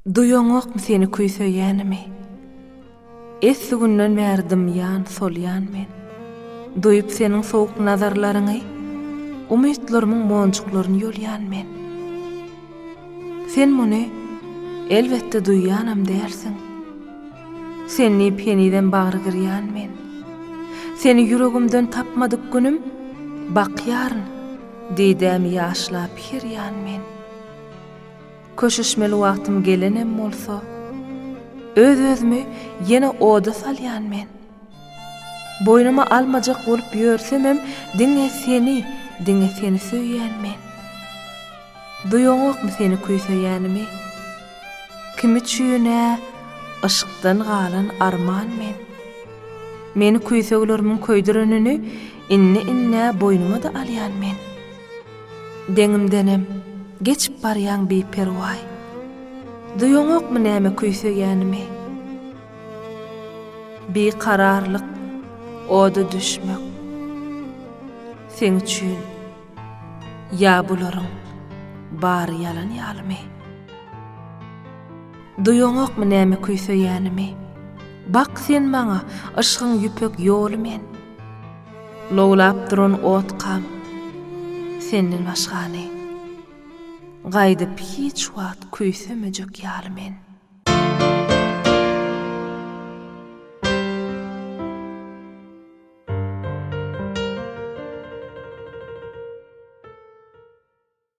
Duýaňokmy seni küý söýýänimi? Esli günden bäri dymýan, solýan men. Duýup seniň sowuk nazarlaryňy, umytlarymyň monjuklaryny ýolýan men. Sen muny, elbetde, duýýanam dälsiň. Sen diýip henizem bagry gyrýan men. Seni ýüregimden tapmadyk günüm, bakýaryn, didämi ýaşlap, her ýan men. Köşeşmeli wagtym gelenem bolsa, Öz-özümi ýene oda salýan men. Boýnuma almajak bolup ýörsemem, Diňe seni, diňe seni söýýän men. Duýaňokmy seni küýseýänimi? Kim üçin-ä yşkdan galan arman men? Meni küýseglermiň köýdürenini Indi-indi boýnuma-da alýan men. Deňimdenem geçip barýaň biperwaý. Duýaňokmy näme küýsegänimi? Bikararlyk oda düşmek. Seň üçin ýa bularyň bary ýalan ýalymy? Duýaňokmy näme küýsegänimi? Bak sen maňa, yşgyň ýüpek ýoly men. Lowlap duran otkam senden başgany, Gaýdyp hiç wagt küýsemejek ýaly men.